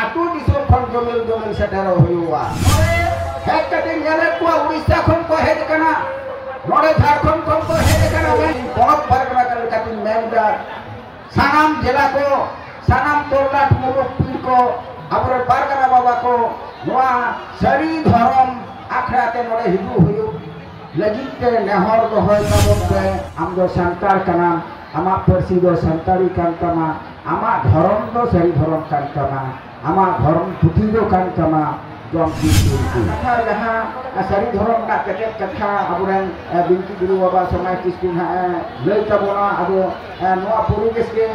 ᱟᱛᱳ ᱫᱤᱥᱚᱢ ᱠᱷᱚᱱ ᱡᱚᱢᱮᱞ ᱡᱚᱢᱮᱞ ᱥᱮᱴᱮᱨᱚᱜ ᱦᱩᱭᱩᱜᱼᱟ ᱦᱮᱡ ᱠᱟᱛᱮ ᱧᱮᱞᱮᱫ ᱠᱚᱣᱟ ᱩᱲᱤᱥᱥᱟ ᱠᱷᱚᱱ ᱠᱚ ᱦᱮᱡ ᱟᱠᱟᱱᱟ ᱱᱚᱰᱮ ᱡᱷᱟᱲᱠᱷᱚᱸᱰ ᱠᱷᱚᱱ ᱠᱚ ᱦᱮᱡ ᱟᱠᱟᱱᱟ ᱢᱮᱱ ᱯᱚᱱᱚᱛ ᱯᱟᱨᱜᱟᱱᱟ ᱠᱟᱱ ᱞᱮᱠᱟᱛᱤᱧ ᱢᱮᱱᱫᱟ ᱥᱟᱱᱟᱢ ᱡᱮᱞᱟ ᱠᱚ ᱥᱟᱱᱟᱢ ᱛᱚᱨᱞᱟᱴ ᱢᱩᱨᱩᱠ ᱯᱤᱲ ᱠᱚ ᱟᱵᱚᱨᱮᱱ ᱯᱟᱨᱜᱟᱱᱟ ᱵᱟᱵᱟ ᱠᱚ ᱱᱚᱣᱟ ᱥᱟᱹᱨᱤ ᱫᱷᱚᱨᱚᱢ ᱟᱠᱷᱲᱟ ᱛᱮ ᱱᱚᱰᱮ ᱦᱤᱡᱩᱜ ᱦᱩᱭᱩᱜ ᱞᱟᱹᱜᱤᱫ ᱛᱮ ᱱᱮᱦᱚᱨ ᱫᱚᱦᱚᱭ ᱛᱟᱵᱚᱱ ᱯᱮ ᱟᱢ ᱫᱚ ᱥᱟᱱᱛᱟᱲ ᱠᱟᱱᱟᱢ ᱟᱢᱟᱜ ᱯᱟᱹᱨᱥᱤ ᱫᱚ ᱥᱟᱱᱛᱟᱲᱤ ᱠᱟᱱ ᱛᱟᱢᱟ ᱟᱢᱟᱜ ᱫᱷᱚᱨᱚᱢ ᱫᱚ ᱥᱟᱹᱨᱤ ᱫᱷᱚᱨᱚᱢ ᱠᱟᱱ ᱛᱟᱢᱟ ᱟᱢᱟᱜ ᱫᱷᱚᱨᱚᱢ ᱯᱩᱛᱷᱤ ᱫᱚ ᱠᱟᱱ ᱛᱟᱢᱟ ᱡᱚᱢ ᱫᱤᱱ ᱫᱤᱱ ᱠᱚ ᱠᱟᱛᱷᱟ ᱡᱟᱦᱟᱸ ᱥᱟᱹᱨᱤ ᱫᱷᱚᱨᱚᱢ ᱨᱮᱱᱟᱜ ᱠᱮᱴᱮᱡ ᱠᱟᱛᱷᱟ ᱟᱵᱚᱨᱮᱱ ᱵᱤᱱᱛᱤ ᱜᱩᱨᱩ ᱵᱟᱵᱟ ᱥᱚᱢᱟᱡᱽ ᱠᱤᱥᱠᱩ ᱦᱟᱸᱜ ᱞᱟᱹᱭ ᱛᱟᱵᱚᱱᱟ ᱟᱫᱚ ᱱᱚᱣᱟ ᱯᱚᱨᱤᱵᱮᱥ ᱜᱮ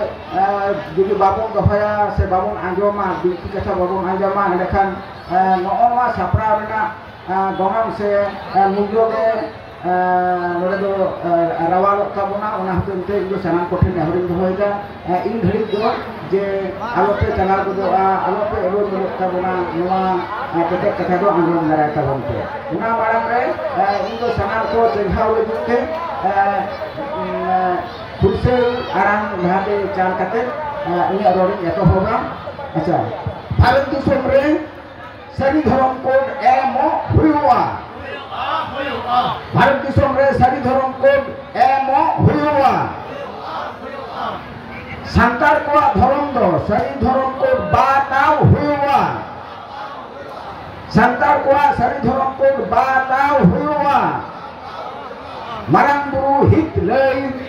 ᱡᱩᱫᱤ ᱵᱟᱵᱚᱱ ᱫᱚᱦᱚᱭᱟ ᱥᱮ ᱵᱟᱵᱚᱱ ᱟᱸᱡᱚᱢᱟ ᱵᱤᱱᱛᱤ ᱠᱟᱛᱷᱟ ᱵᱟᱵᱚᱱ ᱟᱸᱡᱚᱢᱟ ᱮᱸᱰᱮᱠᱷᱟᱱ ᱱᱚᱜᱼᱚ ᱱᱚᱣᱟ ᱥᱟᱯᱲᱟᱣ ᱨᱮᱱᱟᱜ ᱜᱚᱱᱚᱝ ᱥᱮ ᱢᱩᱞᱞᱚ ᱜᱮ ᱱᱚᱰᱮ ᱫᱚ ᱨᱟᱣᱟᱞᱚᱜ ᱛᱟᱵᱚᱱᱟ ᱚᱱᱟ ᱦᱚᱛᱮᱡ ᱛᱮ ᱤᱧ ᱫᱚ ᱥᱟᱱᱟᱢ ᱠᱚᱴᱷᱮᱱ ᱱᱮᱦᱚᱨᱤᱧ ᱫᱚᱦᱚᱭᱮᱫᱟ ᱤᱧ ᱫᱷᱟᱹᱨᱤᱡ ᱫᱚ ᱡᱮ ᱟᱞᱚᱯᱮ ᱪᱟᱞᱟᱣ ᱜᱚᱫᱚᱜᱼᱟ ᱟᱞᱚᱯᱮ ᱮᱲᱳ ᱜᱚᱫᱚᱜ ᱛᱟᱵᱚᱱᱟ ᱱᱚᱣᱟ ᱠᱮᱴᱮᱡ ᱠᱟᱛᱷᱟ ᱫᱚ ᱟᱸᱡᱚᱢ ᱫᱟᱨᱟᱭ ᱛᱟᱵᱚᱱ ᱯᱮ ᱚᱱᱟ ᱢᱟᱲᱟᱝ ᱨᱮ ᱤᱧ ᱫᱚ ᱥᱟᱱᱟᱢ ᱠᱚ ᱪᱮᱸᱜᱷᱟᱣ ᱞᱟᱹᱜᱤᱫ ᱛᱮ ᱯᱩᱭᱥᱟᱹ ᱟᱲᱟᱝ ᱡᱟᱦᱟᱸᱛᱮ ᱪᱟᱞ ᱠᱟᱛᱮ ᱤᱧᱟᱹᱜ ᱨᱚᱲᱤᱧ ᱮᱛᱚᱦᱚᱵᱟ ᱟᱪᱪᱷᱟ ᱵᱷᱟᱨᱚᱛ ᱫᱤᱥᱚᱢ ᱨᱮ ᱥᱟᱹᱨᱤ ᱫᱷᱚᱨᱚᱢ ᱠᱳᱰ ᱮᱢᱚᱜ ᱦᱩᱭᱩᱜᱼᱟ ᱵᱷᱟᱨᱚᱛ ᱫᱤᱥᱚᱢ ᱨᱮ ᱥᱟᱹᱨᱤ ᱫᱷᱚᱨᱚᱢ ᱠᱳᱰ ᱮᱢᱚᱜ ᱦᱩᱭᱩᱜᱼᱟ ᱥᱟᱱᱛᱟᱲ ᱠᱚᱣᱟᱜ ᱫᱷᱚᱨᱚᱢ ᱫᱚ ᱥᱟᱹᱨᱤ ᱫᱷᱚᱨᱚᱢ ᱠᱳᱰ ᱵᱟᱛᱟᱣ ᱦᱩᱭᱩᱜᱼᱟ ᱥᱟᱱᱛᱟᱲ ᱠᱚᱣᱟᱜ ᱥᱟᱹᱨᱤ ᱫᱷᱚᱨᱚᱢ ᱠᱳᱰ ᱵᱟᱛᱟᱣ ᱦᱩᱭᱩᱜᱼᱟ ᱢᱟᱨᱟᱝ ᱵᱩᱨᱩ ᱦᱤᱛ ᱞᱟᱹᱭ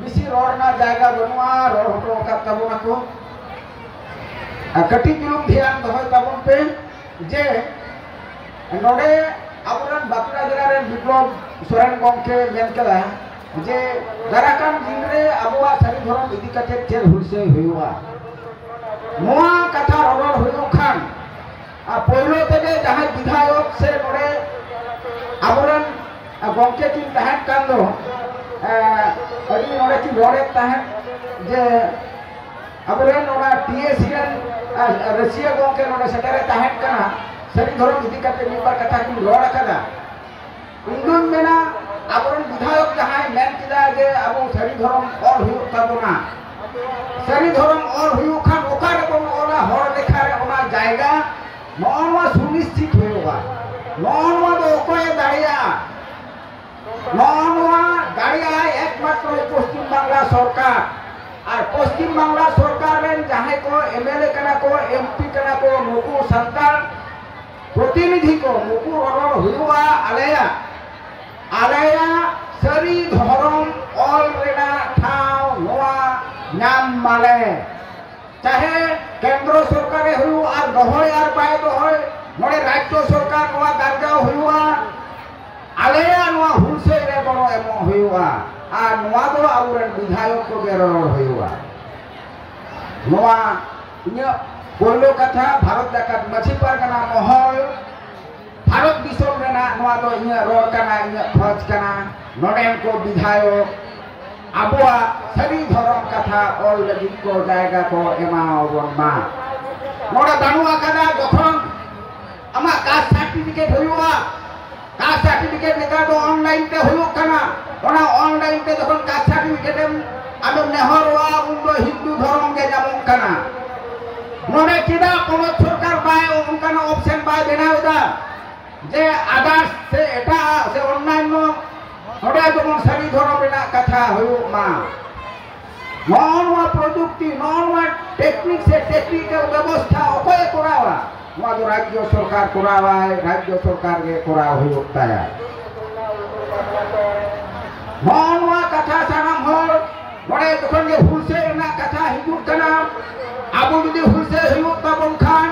ᱵᱮᱥᱤ ᱨᱚᱲ ᱨᱮᱱᱟᱜ ᱡᱟᱭᱜᱟ ᱵᱟᱹᱱᱩᱜᱼᱟ ᱨᱚᱲ ᱦᱚᱴᱚ ᱟᱠᱟᱫ ᱛᱟᱵᱚᱱᱟ ᱠᱚ ᱟᱨ ᱠᱟᱹᱴᱤᱡ ᱪᱩᱞᱩᱝ ᱫᱷᱮᱭᱟᱱ ᱫᱚᱦᱚᱭ ᱛᱟᱵᱚᱱ ᱯᱮ ᱡᱮ ᱱᱚᱰᱮ ᱟᱵᱚᱨᱮᱱ ᱵᱟᱸᱠᱩᱲᱟ ᱡᱮᱞᱟ ᱨᱮᱱ ᱵᱤᱯᱞᱚᱵ ᱥᱚᱨᱮᱱ ᱜᱚᱢᱠᱮ ᱢᱮᱱ ᱠᱮᱫᱟ ᱡᱮ ᱫᱟᱨᱟ ᱠᱟᱱ ᱫᱤᱱ ᱨᱮ ᱟᱵᱚᱣᱟᱜ ᱥᱟᱹᱨᱤ ᱫᱷᱚᱨᱚᱢ ᱤᱫᱤ ᱠᱟᱛᱮ ᱪᱮᱫ ᱦᱩᱞᱥᱟᱹᱭ ᱦᱩᱭᱩᱜᱼᱟ ᱱᱚᱣᱟ ᱠᱟᱛᱷᱟ ᱨᱚᱲ ᱦᱩᱭᱩᱜ ᱠᱷᱟᱱ ᱟᱨ ᱯᱳᱭᱞᱳ ᱛᱮᱜᱮ ᱡᱟᱦᱟᱸᱭ ᱵᱤᱫᱷᱟᱭᱚᱠ ᱥᱮ ᱱᱚᱰᱮ ᱟᱵᱚᱨᱮᱱ ᱜᱚᱢᱠᱮ ᱠᱤᱱ ᱛᱟᱦᱮᱸ ᱠᱟᱱ ᱫᱚ ᱟᱹᱰᱤ ᱱᱚᱰᱮ ᱠᱤᱱ ᱨᱚᱲᱮᱫ ᱛᱟᱦᱮᱸᱫ ᱡᱮ ᱟᱵᱚᱨᱮᱱ ᱚᱱᱟ ᱴᱤᱮᱥᱤ ᱨᱮᱱ ᱨᱟᱹᱥᱤᱭᱟᱹ ᱜᱚᱢᱠᱮ ᱱᱚᱰᱮ ᱥᱮᱴᱮᱨᱮ ᱛᱟᱦᱮᱸ ᱠᱟᱱᱟ ᱥᱟᱹᱨᱤ ᱫᱷᱚᱨᱚᱢ ᱤᱫᱤ ᱠᱟᱛᱮ ᱢᱤᱫ ᱵᱟᱨ ᱠᱟᱛᱷᱟ ᱠᱤᱱ ᱨᱚᱲ ᱟᱠᱟᱫᱟ ᱤᱧᱫᱩᱧ ᱢᱮᱱᱟ ᱟᱵᱚᱨᱮᱱ ᱵᱤᱫᱷᱟᱭᱚᱠ ᱡᱟᱦᱟᱸᱭ ᱢᱮᱱ ᱠᱮᱫᱟ ᱡᱮ ᱟᱵᱚ ᱥᱟᱹᱨᱤ ᱫᱷᱚᱨᱚᱢ ᱚᱞ ᱦᱩᱭᱩᱜ ᱛᱟᱵᱚᱱᱟ ᱥᱟᱹᱨᱤ ᱫᱷᱚᱨᱚᱢ ᱚᱞ ᱦᱩᱭᱩᱜ ᱠᱷᱟᱱ ᱚᱠᱟ ᱨᱮᱵᱚᱱ ᱚᱞᱟ ᱦᱚᱲ ᱞᱮᱠᱷᱟ ᱨᱮ ᱚᱱᱟ ᱡᱟᱭᱜᱟ ᱱᱚᱜᱼᱚ ᱱᱚᱣᱟ ᱥᱩᱱᱤᱥᱪᱤᱛ ᱦᱩᱭᱩᱜᱼᱟ ᱱᱚᱜᱼᱚ ᱱᱚᱣᱟ ᱫᱚ ᱚᱠᱚᱭᱮ ᱫᱟᱲᱮᱭᱟᱜᱼᱟ ᱱᱚᱜᱼᱚ ᱱᱚᱣᱟ ᱫᱟᱲᱮᱭᱟᱜᱼᱟᱭ ᱮᱠᱢᱟᱛᱨᱚ ᱯᱚᱥᱪᱤᱢ ᱵᱟᱝᱞᱟ ᱥᱚᱨᱠᱟᱨ ᱟᱨ ᱯᱚᱥᱪᱤᱢ ᱵᱟᱝᱞᱟ ᱥᱚᱨᱠᱟᱨ ᱨᱮᱱ ᱡᱟᱦᱟᱸᱭ ᱠᱚ ᱮᱢᱮᱞᱮ ᱠᱟᱱᱟ ᱠᱚ ᱮᱢᱯᱤ ᱠᱟᱱᱟ ᱠᱚ ᱱᱩᱠᱩ ᱥᱟᱱᱛᱟᱲ ᱯᱨᱚᱛᱤᱱᱤᱫᱷᱤ ᱠᱚ ᱱᱩᱠᱩ ᱨᱚᱨᱚᱲ ᱦᱩᱭᱩᱜᱼᱟ ᱟᱞᱮᱭᱟᱜ ᱟᱞᱮᱭᱟᱜ ᱥᱟᱹᱨᱤ ᱫᱷᱚᱨᱚᱢ ᱚᱞ ᱨᱮᱱᱟᱜ ᱴᱷᱟᱶ ᱱᱚᱣᱟ ᱧᱟᱢ ᱢᱟᱞᱮ ᱪᱟᱦᱮ ᱠᱮᱱᱫᱨᱚ ᱥᱚᱨᱠᱟᱨᱮ ᱦᱩᱭᱩᱜ ᱟᱨ ᱫᱚᱦᱚᱭ ᱟᱨ ᱵᱟᱭ ᱫᱚᱦᱚᱭ ᱱᱚᱰᱮ ᱨᱟᱡᱽᱡᱚ ᱥᱚᱨᱠᱟᱨ ᱱᱚᱣᱟ ᱫᱟᱨᱡᱟᱣ ᱦᱩᱭᱩᱜᱼᱟ ᱟᱞᱮᱭᱟᱜ ᱱᱚᱣᱟ ᱦᱩᱞᱥᱟᱹᱭ ᱨᱮ ᱜᱚᱲᱚ ᱮᱢᱚᱜ ᱦᱩᱭᱩᱜᱼᱟ ᱟᱨ ᱱᱚᱣᱟ ᱫᱚ ᱟᱵᱚᱨᱮᱱ ᱵᱤᱫᱷᱟᱭᱚᱠ ᱠᱚᱜᱮ ᱨᱚᱲ ᱦᱩᱭᱩᱜᱼᱟ ᱱᱚᱣᱟ ᱤᱧᱟᱹᱜ ᱯᱳᱭᱞᱳ ᱠᱟᱛᱷᱟ ᱵᱷᱟᱨᱚᱛ ᱡᱟᱠᱟᱛ ᱢᱟᱹᱡᱷᱤ ᱯᱟᱨᱜᱟᱱᱟ ᱢᱚᱦᱚᱞ ᱵᱷᱟᱨᱚᱛ ᱫᱤᱥᱚᱢ ᱨᱮᱱᱟᱜ ᱱᱚᱣᱟ ᱫᱚ ᱤᱧᱟᱹᱜ ᱨᱚᱲ ᱠᱟᱱᱟ ᱤᱧᱟᱹᱜ ᱠᱷᱚᱡᱽ ᱠᱟᱱᱟ ᱱᱚᱰᱮᱱ ᱠᱚ ᱵᱤᱫᱷᱟᱭᱚᱠ ᱟᱵᱚᱣᱟᱜ ᱥᱟᱹᱨᱤ ᱫᱷᱚᱨᱚᱢ ᱠᱟᱛᱷᱟ ᱚᱞ ᱞᱟᱹᱜᱤᱫ ᱠᱚ ᱡᱟᱭᱜᱟ ᱠᱚ ᱮᱢᱟᱣᱟᱵᱚᱱ ᱢᱟ ᱱᱚᱰᱮ ᱵᱟᱹᱱᱩᱜ ᱟᱠᱟᱫᱟ ᱡᱚᱠᱷᱚᱱ ᱟᱢᱟᱜ ᱠᱟᱥᱴ ᱥᱟᱨᱴᱤᱯᱷᱤᱠᱮᱴ ᱦᱩᱭᱩᱜᱼᱟ ᱠᱟᱥᱴ ᱥᱟᱨᱴᱤᱯᱷᱤᱠᱮᱴ ᱱᱮᱛᱟᱨ ᱫᱚ ᱚᱱᱞᱟᱭᱤᱱ ᱛᱮ ᱦᱩᱭᱩᱜ ᱠᱟᱱᱟ ᱚᱱᱟ ᱚᱱᱞᱟᱭᱤᱱ ᱛᱮ ᱡᱚᱠᱷᱚᱱ ᱠᱟᱥᱴ ᱥᱟᱨᱴᱤᱯᱷᱤᱠᱮᱴ ᱮᱢ ᱟᱢᱮᱢ ᱱᱮᱦᱚᱨᱚᱜᱼᱟ ᱩᱱ ᱫᱚ ᱦᱤᱱᱫᱩ ᱫᱷᱚᱨᱚᱢ ᱜᱮ ᱧᱟᱢᱚᱜ ᱠᱟᱱᱟ ᱱᱚᱰᱮ ᱪᱮᱫᱟᱜ ᱯᱚᱱᱚᱛ ᱥᱚᱨᱠᱟᱨ ᱵᱟᱭ ᱚᱱᱠᱟᱱᱟᱜ ᱚᱯᱥᱮᱱ ᱵᱟᱭ ᱵᱮᱱᱟᱣ ᱮᱫᱟ ᱡᱮ ᱟᱫᱟᱨᱥ ᱥᱮ ᱮᱴᱟᱜ ᱥᱮ ᱚᱱᱞᱟᱭᱤᱱ ᱱᱚᱰᱮ ᱡᱮᱢᱚᱱ ᱥᱟᱹᱨᱤ ᱫᱷᱚᱨᱚᱢ ᱨᱮᱱᱟᱜ ᱠᱟᱛᱷᱟ ᱦᱩᱭᱩᱜ ᱢᱟ ᱱᱚᱜᱼᱚ ᱱᱚᱣᱟ ᱯᱨᱚᱡᱩᱠᱛᱤ ᱱᱚᱜᱼᱚ ᱱᱚᱣᱟ ᱴᱮᱠᱱᱤᱠ ᱥᱮ ᱴᱮᱠᱱᱤᱠᱮᱞ ᱵᱮᱵᱚᱥᱛᱷᱟ ᱚᱠᱚᱭᱮ ᱠᱚᱨᱟᱣᱟ ᱱᱚᱣᱟ ᱫᱚ ᱨᱟᱡᱽᱡᱚ ᱥᱚᱨᱠᱟᱨ ᱠᱚᱨᱟᱣᱟᱭ ᱨᱟᱡᱽᱡᱚ ᱥᱚᱨᱠᱟᱨ ᱜᱮ ᱠᱚᱨᱟᱣ ᱦᱩᱭᱩᱜ ᱛᱟᱭᱟ ᱱᱚᱣᱟ ᱱᱚᱣᱟ ᱠᱟᱛᱷᱟ ᱥᱟᱱᱟᱢ ᱦᱚᱲ ᱱᱚᱰᱮ ᱡᱚᱠᱷᱚᱱ ᱜᱮ ᱦᱩᱞᱥᱟᱹᱭ ᱨᱮᱱᱟᱜ ᱠᱟᱛᱷᱟ ᱦᱤᱡᱩᱜ ᱠᱟᱱᱟ ᱟᱵᱚ ᱡᱩᱫᱤ ᱦᱩᱞᱥᱟᱹᱭ ᱦᱩᱭᱩᱜ ᱛᱟᱵᱚᱱ ᱠᱷᱟᱱ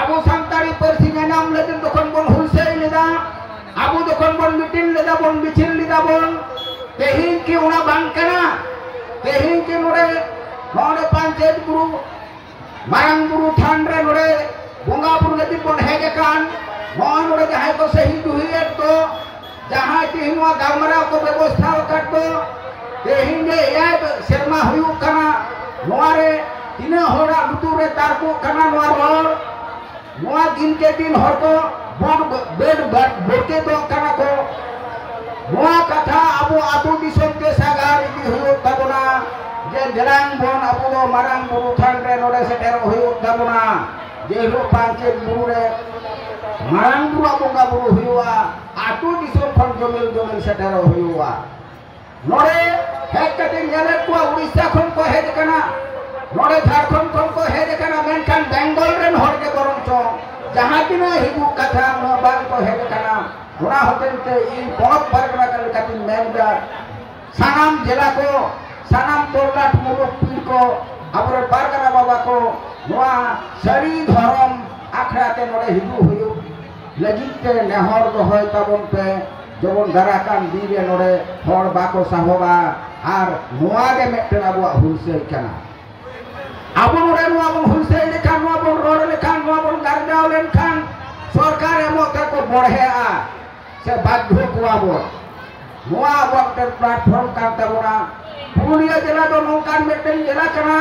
ᱟᱵᱚ ᱥᱟᱱᱛᱟᱲᱤ ᱯᱟᱹᱨᱥᱤ ᱧᱟᱧᱟᱢ ᱞᱟᱹᱜᱤᱫ ᱡᱚᱠᱷᱚᱱ ᱵᱚᱱ ᱦᱩᱞᱥᱟᱹᱭ ᱞᱮᱫᱟ ᱟᱵᱚ ᱡᱚᱠᱷᱚᱱ ᱵᱚᱱ ᱢᱤᱴᱤᱝ ᱞᱮᱫᱟ ᱵᱚᱱ ᱢᱤᱪᱷᱤᱞ ᱞᱮᱫᱟ ᱵᱚᱱ ᱛᱮᱦᱮᱧ ᱠᱤ ᱚᱱᱟ ᱵᱟᱝ ᱠᱟᱱᱟ ᱛᱮᱦᱮᱧ ᱠᱤ ᱱᱚᱰᱮ ᱱᱚᱰᱮ ᱯᱟᱧᱪᱮᱛ ᱜᱩᱨᱩ ᱢᱟᱨᱟᱝ ᱵᱩᱨᱩ ᱛᱷᱟᱱ ᱨᱮ ᱱᱚᱰᱮ ᱵᱚᱸᱜᱟ ᱵᱩᱨᱩ ᱞᱟᱹᱜᱤᱫ ᱵᱚᱱ ᱦᱮᱡ ᱟᱠᱟᱱ ᱱᱚᱜᱼᱚᱭ ᱱᱚᱰᱮ ᱡᱟᱦᱟᱸᱭ ᱠᱚ ᱥᱟᱹᱦᱤ ᱡᱩᱦᱤᱭᱮᱫ ᱫᱚ ᱡᱟᱦᱟᱸᱭ ᱛᱮᱦᱮᱧ ᱱᱚᱣᱟ ᱜᱟᱞᱢᱟᱨᱟᱣ ᱠᱚ ᱵᱮᱵᱚᱥᱛᱷᱟ ᱟᱠᱟᱫ ᱫᱚ ᱛᱮᱦᱮᱧ ᱜᱮ ᱮᱭᱟᱭ ᱥᱮᱨᱢᱟ ᱦᱩᱭᱩᱜ ᱠᱟᱱᱟ ᱱᱚᱣᱟ ᱨᱮ ᱛᱤᱱᱟᱹᱜ ᱦᱚᱲᱟᱜ ᱞᱩᱛᱩᱨ ᱨᱮ ᱛᱟᱨᱠᱚᱜ ᱠᱟᱱᱟ ᱱᱚᱣᱟ ᱨᱚᱲ ᱱᱚᱣᱟ ᱫᱤᱱ ᱠᱮ ᱫᱤᱱ ᱦᱚᱲ ᱠᱚ ᱵᱟᱹᱰ ᱵᱟᱹᱰ ᱵᱚᱨᱠᱮᱛᱚᱜ ᱠᱟᱱᱟ ᱠᱚ ᱱᱚᱣᱟ ᱠᱟᱛᱷᱟ ᱟᱵᱚ ᱟᱛᱳ ᱫᱤᱥᱚᱢ ᱛᱮ ᱥᱟᱜᱟᱲ ᱤᱫᱤ ᱦᱩᱭᱩᱜ ᱛᱟᱵᱚᱱᱟ ᱡᱮ ᱫᱮᱞᱟᱝ ᱵᱚᱱ ᱟᱵᱚ ᱫᱚ ᱢᱟᱨᱟᱝ ᱵᱩᱨᱩ ᱛᱷᱟᱱ ᱨᱮ ᱱᱚᱰᱮ ᱥᱮᱴᱮᱨᱚᱜ ᱦᱩᱭᱩᱜ ᱛᱟᱵᱚᱱᱟ ᱡᱮ ᱦᱤᱞᱳᱜ ᱯᱟᱧᱪᱮᱛ ᱵᱩᱨᱩ ᱨᱮ ᱢᱟᱨᱟᱝ ᱵᱩᱨᱩᱣᱟᱜ ᱵᱚᱸᱜᱟ ᱵᱩᱨᱩ ᱦᱩᱭᱩᱜᱼᱟ ᱟᱛᱳ ᱫᱤᱥᱚᱢ ᱠᱷᱚᱱ ᱡᱚᱢᱤᱞ ᱡᱚᱢᱤᱞ ᱥᱮᱴᱮᱨᱚᱜ ᱦᱩᱭᱩᱜᱼᱟ ᱱᱚᱰᱮ ᱦᱮᱡ ᱠᱟᱛᱮ ᱧᱮᱞᱮᱫ ᱠᱚᱣᱟ ᱩᱲᱤᱥᱥᱟ ᱠᱷᱚᱱ ᱠᱚ ᱦᱮᱡ ᱟᱠᱟᱱᱟ ᱱᱚᱰᱮ ᱡᱷᱟᱲᱠᱷᱚᱸᱰ ᱠᱷᱚᱱ ᱠᱚ ᱦᱮᱡ ᱟᱠᱟᱱᱟ ᱢᱮᱱᱠᱷᱟᱱ ᱵᱮᱝᱜᱚᱞ ᱨᱮᱱ ᱦᱚᱲ ᱜᱮ ᱵᱚᱨᱚᱝ ᱪᱚᱝ ᱡᱟᱦᱟᱸ ᱛᱤᱱᱟᱹᱜ ᱦᱤᱡᱩᱜ ᱠᱟᱛᱷᱟ ᱱᱚᱣᱟ ᱵᱟᱝ ᱠᱚ ᱦᱮᱡ ᱟᱠᱟᱱᱟ ᱚᱱᱟ ᱦᱚᱛᱮᱡ ᱛᱮ ᱤᱧ ᱯᱚᱱᱚᱛ ᱯᱟᱨᱜᱟᱱᱟ ᱠᱟᱱ ᱞᱮᱠᱟᱛᱤᱧ ᱢᱮᱱ ᱮᱫᱟ ᱥᱟᱱᱟᱢ ᱡᱮᱞᱟ ᱠᱚ ᱥᱟᱱᱟᱢ ᱠᱚᱨᱱᱟᱴ ᱢᱩᱨᱩᱠ ᱯᱤᱲ ᱠᱚ ᱟᱵᱚᱨᱮᱱ ᱯᱟᱨᱜᱟᱱᱟ ᱵᱟᱵᱟ ᱠᱚ ᱱᱚᱣᱟ ᱥᱟᱹᱨᱤ ᱫᱷᱚᱨᱚᱢ ᱟᱠᱷᱲᱟ ᱛᱮ ᱱᱚᱰᱮ ᱦᱤᱡᱩᱜ ᱦᱩᱭᱩᱜ ᱞᱟᱹᱜᱤᱫ ᱛᱮ ᱱᱮᱦᱚᱨ ᱫᱚᱦᱚᱭ ᱛᱟᱵᱚᱱ ᱯᱮ ᱡᱮᱢᱚᱱ ᱫᱟᱨᱟ ᱠᱟᱱ ᱫᱤᱱ ᱨᱮ ᱱᱚᱰᱮ ᱦᱚᱲ ᱵᱟᱠᱚ ᱥᱟᱦᱚᱵᱟ ᱟᱨ ᱱᱚᱣᱟ ᱜᱮ ᱢᱤᱫᱴᱮᱱ ᱟᱵᱚᱣᱟᱜ ᱦᱩᱞᱥᱟᱹᱭ ᱠᱟᱱᱟ ᱟᱵᱚ ᱱᱚᱰᱮ ᱱᱚᱣᱟ ᱵᱚᱱ ᱦᱩᱞᱥᱟᱹᱭ ᱞᱮᱠᱷᱟᱱ ᱱᱚᱣᱟ ᱵᱚᱱ ᱨᱚᱲ ᱞᱮᱠᱷᱟᱱ ᱱᱚᱣᱟ ᱵᱚᱱ ᱜᱟᱨᱡᱟᱣ ᱞᱮᱱᱠᱷᱟᱱ ᱥᱚᱨᱠᱟᱨ ᱮᱢᱚᱜ ᱛᱮᱠᱚ ᱵᱚᱲᱦᱮᱜᱼᱟ ᱥᱮ ᱵᱟᱫᱽᱫᱷᱚ ᱠᱚᱣᱟ ᱵᱚᱱ ᱱᱚᱣᱟ ᱟᱵᱚᱣᱟᱜ ᱢᱤᱫᱴᱮᱱ ᱯᱞᱟᱴᱯᱷᱚᱨᱢ ᱠᱟᱱ ᱛᱟᱵᱚᱱᱟ ᱯᱩᱨᱩᱞᱤᱭᱟᱹ ᱡᱮᱞᱟ ᱫᱚ ᱱᱚᱝᱠᱟᱱ ᱢᱤᱫᱴᱮᱱ ᱡᱮᱞᱟ ᱠᱟᱱᱟ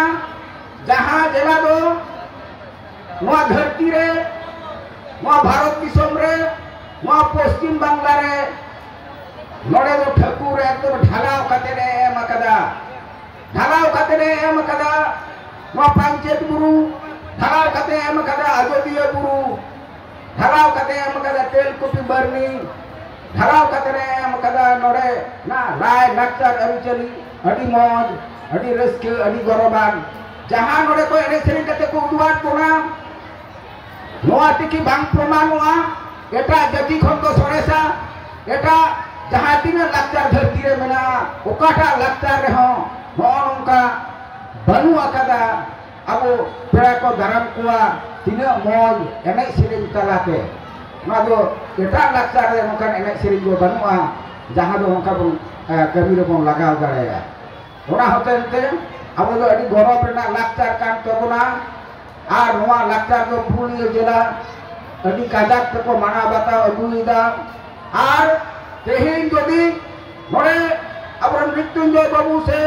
ᱡᱟᱦᱟᱸ ᱡᱮᱞᱟ ᱫᱚ ᱱᱚᱣᱟ ᱫᱷᱟᱹᱨᱛᱤ ᱨᱮ ᱱᱚᱣᱟ ᱵᱷᱟᱨᱚᱛ ᱫᱤᱥᱚᱢ ᱨᱮ ᱱᱚᱣᱟ ᱯᱚᱥᱪᱤᱢ ᱵᱟᱝᱞᱟ ᱨᱮ ᱱᱚᱰᱮ ᱫᱚ ᱴᱷᱟᱹᱠᱩᱨ ᱮᱠᱫᱚᱢ ᱰᱷᱟᱞᱟᱣ ᱠᱟᱛᱮ ᱮ ᱮᱢ ᱟᱠᱟᱫᱟ ᱰᱷᱟᱞᱟᱣ ᱠᱟᱛᱮ ᱮ ᱮᱢ ᱟᱠᱟᱫᱟ ᱱᱚᱣᱟ ᱯᱟᱧᱪᱮᱛ ᱵᱩᱨᱩ ᱰᱷᱟᱞᱟᱣ ᱠᱟᱛᱮ ᱮᱢ ᱟᱠᱟᱫᱟ ᱟᱡᱚᱫᱤᱭᱟᱹ ᱵᱩᱨᱩ ᱰᱷᱟᱞᱟᱣ ᱠᱟᱛᱮ ᱮᱢ ᱟᱠᱟᱫᱟ ᱛᱮᱞᱠᱩᱯᱤ ᱵᱟᱨᱱᱤ ᱰᱷᱟᱞᱟᱣ ᱠᱟᱛᱮ ᱮ ᱮᱢ ᱟᱠᱟᱫᱟ ᱱᱚᱰᱮ ᱱᱟ ᱞᱟᱭ ᱞᱟᱠᱪᱟᱨ ᱟᱹᱨᱤᱪᱟᱹᱞᱤ ᱟᱹᱰᱤ ᱢᱚᱡᱽ ᱟᱹᱰᱤ ᱨᱟᱹᱥᱠᱟᱹ ᱟᱹᱰᱤ ᱜᱚᱨᱚᱵᱟᱱ ᱡᱟᱦᱟᱸ ᱱᱚᱰᱮ ᱠᱚ ᱮᱱᱮᱡ ᱥᱮᱨᱮᱧ ᱠᱟᱛᱮ ᱠᱚ ᱩᱫᱩᱜᱟᱫ ᱵᱚᱱᱟ ᱱᱚᱣᱟ ᱛᱮᱠᱤ ᱵᱟᱝ ᱯᱨᱚᱢᱟᱱᱚᱜᱼᱟ ᱮᱴᱟᱜ ᱡᱟᱹᱛᱤ ᱠᱷᱚᱱ ᱫᱚ ᱥᱚᱨᱮᱥᱟ ᱮᱴᱟᱜ ᱡᱟᱦᱟᱸ ᱛᱤᱱᱟᱹᱜ ᱞᱟᱠᱪᱟᱨ ᱫᱷᱟᱹᱨᱛᱤ ᱨᱮ ᱢᱮᱱᱟᱜᱼᱟ ᱚᱠᱟᱴᱟᱜ ᱞᱟᱠᱪᱟᱨ ᱨᱮᱦᱚᱸ ᱱᱚᱜᱼᱚ ᱱᱚᱝᱠᱟ ᱵᱟᱹᱱᱩᱜ ᱟᱠᱟᱫᱟ ᱟᱵᱚ ᱯᱮᱲᱟ ᱠᱚ ᱫᱟᱨᱟᱢ ᱠᱚᱣᱟ ᱛᱤᱱᱟᱹᱜ ᱢᱚᱡᱽ ᱮᱱᱮᱡ ᱥᱮᱨᱮᱧ ᱛᱟᱞᱟᱛᱮ ᱱᱚᱣᱟ ᱫᱚ ᱮᱴᱟᱜ ᱞᱟᱠᱪᱟᱨ ᱨᱮ ᱱᱚᱝᱠᱟᱱ ᱮᱱᱮᱡ ᱥᱮᱨᱮᱧ ᱫᱚ ᱵᱟᱹᱱᱩᱜᱼᱟ ᱡᱟᱦᱟᱸ ᱫᱚ ᱱᱚᱝᱠᱟ ᱵᱚᱱ ᱠᱟᱹᱢᱤ ᱨᱮᱵᱚᱱ ᱞᱟᱜᱟᱣ ᱫᱟᱲᱮᱭᱟᱜᱼᱟ ᱚᱱᱟ ᱦᱚᱛᱮᱡ ᱛᱮ ᱟᱵᱚ ᱫᱚ ᱟᱹᱰᱤ ᱜᱚᱨᱚᱵᱽ ᱨᱮᱱᱟᱜ ᱞᱟᱠᱪᱟᱨ ᱠᱟᱱ ᱛᱟᱵᱚᱱᱟ ᱟᱨ ᱱᱚᱣᱟ ᱞᱟᱠᱪᱟᱨ ᱫᱚ ᱯᱩᱨᱩᱞᱤᱭᱟᱹ ᱡᱮᱞᱟ ᱟᱹᱰᱤ ᱠᱟᱡᱟᱠ ᱛᱮᱠᱚ ᱢᱟᱱᱟᱣ ᱵᱟᱛᱟᱣ ᱟᱹᱜᱩᱭᱮᱫᱟ ᱟᱨ ᱛᱮᱦᱮᱧ ᱡᱩᱫᱤ ᱱᱚᱰᱮ ᱟᱵᱚᱨᱮᱱ ᱢᱨᱤᱛᱭᱩᱧᱡᱚᱭ ᱵᱟᱹᱵᱩ ᱥᱮ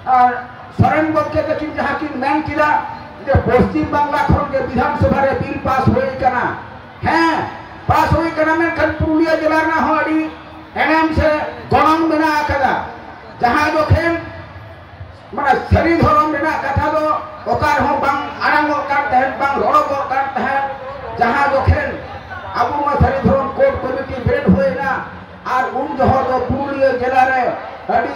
ᱟᱨ ᱥᱚᱨᱮᱱ ᱜᱚᱢᱠᱮ ᱛᱟᱹᱠᱤᱱ ᱡᱟᱦᱟᱸ ᱠᱤᱱ ᱢᱮᱱ ᱠᱮᱫᱟ ᱡᱮ ᱯᱚᱥᱪᱤᱢ ᱵᱟᱝᱞᱟ ᱠᱷᱚᱱ ᱜᱮ ᱵᱤᱫᱷᱟᱱ ᱥᱚᱵᱷᱟ ᱨᱮ ᱵᱤᱞ ᱯᱟᱥ ᱦᱩᱭ ᱠᱟᱱᱟ ᱦᱮᱸ ᱯᱟᱥ ᱦᱩᱭ ᱠᱟᱱᱟ ᱢᱮᱱᱠᱷᱟᱱ ᱯᱩᱨᱩᱞᱤᱭᱟᱹ ᱡᱮᱞᱟ ᱨᱮᱱᱟᱜ ᱦᱚᱸ ᱟᱹᱰᱤ ᱮᱱᱮᱢ ᱥᱮ ᱜᱚᱱᱚᱝ ᱢᱮᱱᱟᱜ ᱟᱠᱟᱫᱟ ᱡᱟᱦᱟᱸ ᱡᱚᱠᱷᱮᱱ ᱢᱟᱱᱮ ᱥᱟᱹᱨᱤ ᱫᱷᱚᱨᱚᱢ ᱨᱮᱱᱟᱜ ᱠᱟᱛᱷᱟ ᱫᱚ ᱚᱠᱟ ᱨᱮᱦᱚᱸ ᱵᱟᱝ ᱟᱲᱟᱝᱚᱜ ᱠᱟᱱ ᱛᱟᱦᱮᱸᱫ ᱵᱟᱝ ᱨᱚᱲᱚᱜᱚᱜ ᱠᱟᱱ ᱛᱟᱦᱮᱸᱫ ᱡᱟᱦᱟᱸ ᱡᱚᱠᱷᱮᱱ ᱟᱵᱚ ᱱᱚᱣᱟ ᱥᱟᱹᱨᱤ ᱫᱷᱚᱨᱚᱢ ᱠᱳᱰ ᱠᱚᱢᱤᱴᱤ ᱵᱮᱨᱮᱫ ᱦᱩᱭᱮᱱᱟ ᱟᱨ ᱩᱱ ᱡᱚᱦᱚᱜ ᱫᱚ ᱯᱩᱨᱩᱞᱤᱭᱟᱹ ᱡᱮᱞᱟ ᱨᱮ ᱟᱹᱰᱤ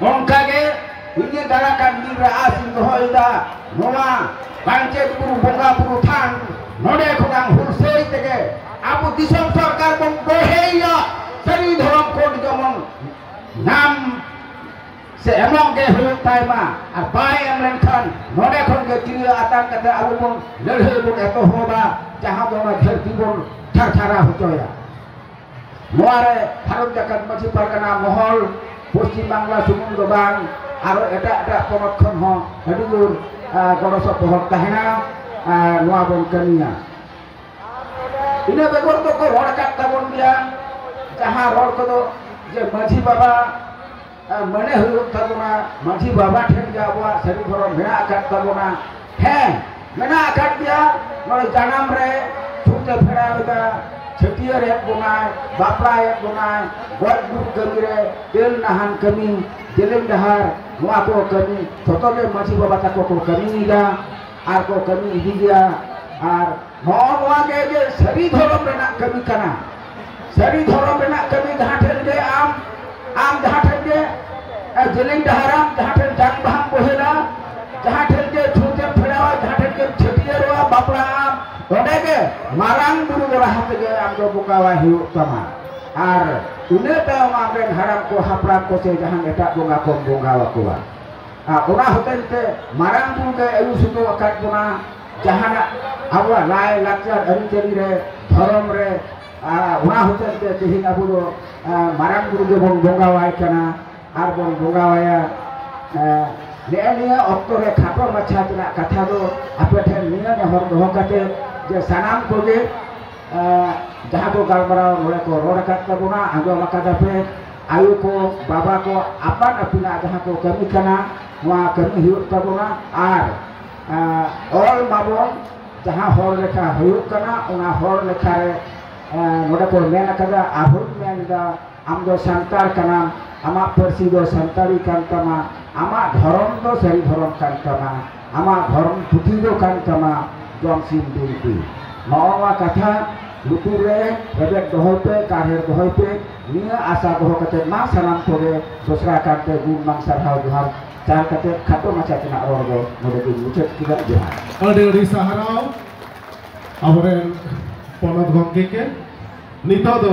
ᱚᱱᱠᱟᱜᱮ ᱤᱧᱟᱹᱜ ᱫᱟᱨᱟ ᱠᱟᱱ ᱫᱤᱱ ᱨᱮ ᱟᱥ ᱤᱧ ᱫᱚᱦᱚᱭᱮᱫᱟ ᱱᱚᱣᱟ ᱵᱟᱧᱪᱮᱛ ᱵᱩᱨᱩ ᱵᱚᱸᱜᱟ ᱵᱩᱨᱩ ᱛᱷᱟᱱ ᱱᱚᱰᱮ ᱠᱷᱚᱱᱟᱝ ᱦᱩᱞᱥᱟᱹᱭ ᱛᱮᱜᱮ ᱟᱵᱚ ᱫᱤᱥᱚᱢ ᱥᱚᱨᱠᱟᱨ ᱵᱚᱱ ᱵᱚᱲᱦᱮᱭᱟ ᱥᱟᱹᱨᱤ ᱫᱷᱚᱨᱚᱢ ᱠᱳᱰ ᱡᱮᱢᱚᱱ ᱧᱟᱢ ᱥᱮ ᱮᱢᱚᱜ ᱜᱮ ᱦᱩᱭᱩᱜ ᱛᱟᱭ ᱢᱟ ᱟᱨ ᱵᱟᱭ ᱮᱢ ᱞᱮᱱᱠᱷᱟᱱ ᱱᱚᱰᱮ ᱠᱷᱚᱱ ᱜᱮ ᱛᱤᱨᱭᱟᱹ ᱟᱛᱟᱝ ᱠᱟᱛᱮ ᱟᱵᱚ ᱵᱚᱱ ᱞᱟᱹᱲᱦᱟᱹᱭ ᱵᱚᱱ ᱮᱛᱚᱦᱚᱵᱟ ᱡᱟᱦᱟᱸ ᱫᱚ ᱚᱱᱟ ᱫᱷᱟᱹᱨᱛᱤ ᱵᱚᱱ ᱛᱷᱟᱨᱛᱷᱟᱨᱟ ᱦᱚᱪᱚᱭᱟ ᱱᱚᱣᱟ ᱨᱮ ᱵᱷᱟᱨᱚᱛ ᱡᱟᱠᱟᱛ ᱢᱟᱹᱡᱷᱤ ᱯᱟᱨᱜᱟᱱᱟ ᱢᱚᱦᱚᱞ ᱯᱚᱥᱪᱤᱢ ᱵᱟᱝᱞᱟ ᱥᱩᱢᱩᱝ ᱫᱚ ᱵᱟᱝ ᱟᱨᱚ ᱮᱴᱟᱜ ᱮᱴᱟᱜ ᱯᱚᱱᱚᱛ ᱠᱷᱚᱱ ᱦᱚᱸ ᱟᱹᱰᱤ ᱡᱳᱨ ᱜᱚᱲᱚ ᱥᱚᱯᱚᱦᱚᱫ ᱛᱟᱦᱮᱱᱟ ᱱᱚᱣᱟ ᱵᱚᱱ ᱠᱟᱹᱢᱤᱭᱟ ᱤᱱᱟᱹ ᱵᱮᱜᱚᱨ ᱫᱚᱠᱚ ᱨᱚᱲ ᱟᱠᱟᱫ ᱛᱟᱵᱚᱱ ᱜᱮᱭᱟ ᱡᱟᱦᱟᱸ ᱨᱚᱲ ᱠᱚᱫᱚ ᱡᱮ ᱢᱟᱹᱡᱷᱤ ᱵᱟᱵᱟ ᱢᱟᱱᱮ ᱦᱩᱭᱩᱜ ᱛᱟᱵᱚᱱᱟ ᱢᱟᱹᱡᱷᱤ ᱵᱟᱵᱟ ᱴᱷᱮᱱ ᱜᱮ ᱟᱵᱚᱣᱟᱜ ᱥᱟᱹᱨᱤ ᱫᱷᱚᱨᱚᱢ ᱢᱮᱱᱟᱜ ᱟᱠᱟᱫ ᱛᱟᱵᱚᱱᱟ ᱦᱮᱸ ᱢᱮᱱᱟᱜ ᱟᱠᱟᱫ ᱜᱮᱭᱟ ᱱᱚᱜᱼᱚᱭ ᱡᱟᱱᱟᱢ ᱨᱮ ᱛᱷᱩᱛᱮ ᱯᱷᱮᱲᱟᱣ ᱮᱫᱟ ᱪᱷᱟᱹᱴᱭᱟᱹᱨ ᱮᱫ ᱵᱚᱱᱟᱭ ᱵᱟᱯᱞᱟᱭᱮᱫ ᱵᱚᱱᱟᱭ ᱜᱚᱡ ᱜᱩᱨ ᱠᱟᱹᱢᱤ ᱨᱮ ᱛᱮᱞ ᱱᱟᱦᱟᱱ ᱠᱟᱹᱢᱤ ᱡᱮᱞᱮᱧ ᱰᱟᱦᱟᱨ ᱱᱚᱣᱟ ᱠᱚ ᱠᱟᱹᱢᱤ ᱡᱚᱛᱚ ᱜᱮ ᱢᱟᱹᱡᱷᱤ ᱵᱟᱵᱟ ᱛᱟᱠᱚ ᱠᱚ ᱠᱟᱹᱢᱤᱭᱮᱫᱟ ᱟᱨ ᱠᱚ ᱠᱟᱹᱢᱤ ᱤᱫᱤ ᱜᱮᱭᱟ ᱟᱨ ᱱᱚᱜᱼᱚ ᱱᱚᱣᱟ ᱜᱮ ᱡᱮ ᱥᱟᱹᱨᱤ ᱫᱷᱚᱨᱚᱢ ᱨᱮᱱᱟᱜ ᱠᱟᱹᱢᱤ ᱠᱟᱱᱟ ᱥᱟᱹᱨᱤ ᱫᱷᱚᱨᱚᱢ ᱨᱮᱱᱟᱜ ᱠᱟᱹᱢᱤ ᱡᱟᱦᱟᱸ ᱴᱷᱮᱱ ᱜᱮ ᱟᱢ ᱟᱢ ᱡᱟᱦᱟᱸ ᱴᱷᱮᱱ ᱜᱮ ᱡᱮᱞᱮᱧ ᱰᱟᱦᱟᱨᱟᱢ ᱡᱟᱦᱟᱸ ᱴᱷᱮᱱ ᱡᱟᱝ ᱵᱟᱦᱟᱢ ᱵᱚᱦᱮᱞᱟ ᱡᱟᱦᱟᱸ ᱴᱷᱮᱱ ᱜᱮ ᱪᱷᱩᱸᱛᱮᱢ ᱯᱷᱮᱲᱟᱣᱟ ᱡᱟᱦᱟᱸ ᱴᱷᱮᱱ ᱜᱮᱢ ᱪᱷᱟᱹᱴᱭᱟᱹᱨᱚᱜᱼᱟ ᱵᱟᱯᱞᱟᱜ ᱟᱢ ᱚᱸᱰᱮ ᱜᱮ ᱢᱟᱨᱟᱝ ᱵᱩᱨᱩ ᱫᱚ ᱞᱟᱦᱟ ᱛᱮᱜᱮ ᱟᱢ ᱫᱚ ᱵᱚᱸᱜᱟᱣᱟᱭ ᱦᱩᱭᱩᱜ ᱛᱟᱢᱟ ᱟᱨ ᱤᱱᱟᱹ ᱛᱟᱭᱚᱢ ᱟᱢᱨᱮᱱ ᱦᱟᱲᱟᱢ ᱠᱚ ᱦᱟᱯᱲᱟᱢ ᱠᱚ ᱥᱮ ᱡᱟᱦᱟᱱ ᱮᱴᱟᱜ ᱵᱚᱸᱜᱟ ᱠᱚᱢ ᱵᱚᱸᱜᱟᱣᱟᱠᱚᱣᱟ ᱟᱨ ᱚᱱᱟ ᱦᱚᱛᱮᱡ ᱛᱮ ᱢᱟᱨᱟᱝ ᱵᱩᱨᱩ ᱜᱮ ᱟᱹᱭᱩᱨ ᱥᱩᱛᱩᱜ ᱟᱠᱟᱫ ᱵᱚᱱᱟ ᱡᱟᱦᱟᱱᱟᱜ ᱟᱵᱚᱣᱟᱜ ᱞᱟᱭ ᱞᱟᱠᱪᱟᱨ ᱟᱹᱨᱤᱪᱟᱹᱞᱤ ᱨᱮ ᱫᱷᱚᱨᱚᱢ ᱨᱮ ᱚᱱᱟ ᱦᱚᱛᱮᱡ ᱛᱮ ᱛᱮᱦᱮᱧ ᱟᱵᱚ ᱫᱚ ᱢᱟᱨᱟᱝ ᱵᱩᱨᱩ ᱜᱮᱵᱚᱱ ᱵᱚᱸᱜᱟᱣᱟᱭ ᱠᱟᱱᱟ ᱟᱨ ᱵᱚᱱ ᱵᱚᱸᱜᱟᱣᱟᱭᱟ ᱱᱮᱜᱼᱮ ᱱᱤᱭᱟᱹ ᱚᱠᱛᱚ ᱨᱮ ᱠᱷᱟᱴᱚ ᱢᱟᱪᱷᱟ ᱨᱮᱱᱟᱜ ᱠᱟᱛᱷᱟ ᱫᱚ ᱟᱯᱮ ᱴᱷᱮᱱ ᱱᱤᱭᱟᱹ ᱱᱮᱦᱚᱨ ᱫᱚᱦᱚ ᱠᱟᱛᱮ ᱡᱮ ᱥᱟᱱᱟᱢ ᱠᱚᱜᱮ ᱡᱟᱦᱟᱸ ᱠᱚ ᱜᱟᱞᱢᱟᱨᱟᱣ ᱱᱚᱰᱮ ᱠᱚ ᱨᱚᱲ ᱟᱠᱟᱫ ᱛᱟᱵᱚᱱᱟ ᱟᱸᱡᱚᱢ ᱟᱠᱟᱫᱟ ᱯᱮ ᱟᱭᱳ ᱠᱚ ᱵᱟᱵᱟ ᱠᱚ ᱟᱯᱟᱱ ᱟᱹᱯᱤᱱᱟᱜ ᱡᱟᱦᱟᱸ ᱠᱚ ᱠᱟᱹᱢᱤ ᱠᱟᱱᱟ ᱱᱚᱣᱟ ᱠᱟᱹᱢᱤ ᱦᱩᱭᱩᱜ ᱛᱟᱵᱚᱱᱟ ᱟᱨ ᱚᱞ ᱵᱟᱵᱚᱱ ᱡᱟᱦᱟᱸ ᱦᱚᱲ ᱞᱮᱠᱷᱟ ᱦᱩᱭᱩᱜ ᱠᱟᱱᱟ ᱚᱱᱟ ᱦᱚᱲ ᱞᱮᱠᱷᱟ ᱨᱮ ᱱᱚᱰᱮ ᱠᱚ ᱢᱮᱱ ᱟᱠᱟᱫᱟ ᱟᱨᱦᱚᱸ ᱢᱮᱱ ᱮᱫᱟ ᱟᱢ ᱫᱚ ᱥᱟᱱᱛᱟᱲ ᱠᱟᱱᱟᱢ ᱟᱢᱟᱜ ᱯᱟᱹᱨᱥᱤ ᱫᱚ ᱥᱟᱱᱛᱟᱲᱤ ᱠᱟᱱ ᱛᱟᱢᱟ ᱟᱢᱟᱜ ᱫᱷᱚᱨᱚᱢ ᱫᱚ ᱥᱟᱹᱨᱤ ᱫᱷᱚᱨᱚᱢ ᱠᱟᱱ ᱛᱟᱢᱟ ᱟᱢᱟᱜ ᱫᱷᱚᱨᱚᱢ ᱯᱩᱛᱷᱤ ᱫᱚ ᱠᱟᱱ ᱛᱟᱢᱟ ᱡᱚᱢ ᱥᱤᱢ ᱵᱤᱱᱛᱤ ᱱᱚᱜᱼᱚ ᱱᱚᱣᱟ ᱠᱟᱛᱷᱟ ᱞᱩᱛᱩᱨ ᱨᱮ ᱨᱮᱵᱮᱫ ᱫᱚᱦᱚᱭ ᱯᱮ ᱠᱟᱨᱦᱮᱲ ᱫᱚᱦᱚᱭ ᱯᱮ ᱱᱤᱭᱟᱹ ᱟᱥᱟ ᱫᱚᱦᱚ ᱠᱟᱛᱮ ᱢᱟ ᱥᱟᱱᱟᱢ ᱠᱚᱜᱮ ᱫᱚᱥᱨᱟ ᱠᱟᱨᱛᱮ ᱜᱩᱱ ᱢᱟᱱ ᱥᱟᱨᱦᱟᱣ ᱡᱚᱦᱟᱨ ᱪᱟᱨ ᱠᱟᱛᱮ ᱠᱷᱟᱴᱚ ᱢᱟᱪᱷᱟ ᱛᱮᱱᱟᱜ ᱨᱚᱲ ᱫᱚ ᱱᱚᱰᱮ ᱜᱮ ᱢᱩᱪᱟᱹᱫ ᱠᱮᱫᱟ ᱡᱚᱦᱟᱨ ᱟᱹᱰᱤ ᱟᱹᱰᱤ ᱥᱟᱦᱟᱨᱟᱣ ᱟᱵᱚᱨᱮᱱ ᱯᱚᱱᱚᱛ ᱜᱚᱢᱠᱮ ᱠᱮ ᱱᱤᱛᱚᱜ ᱫᱚ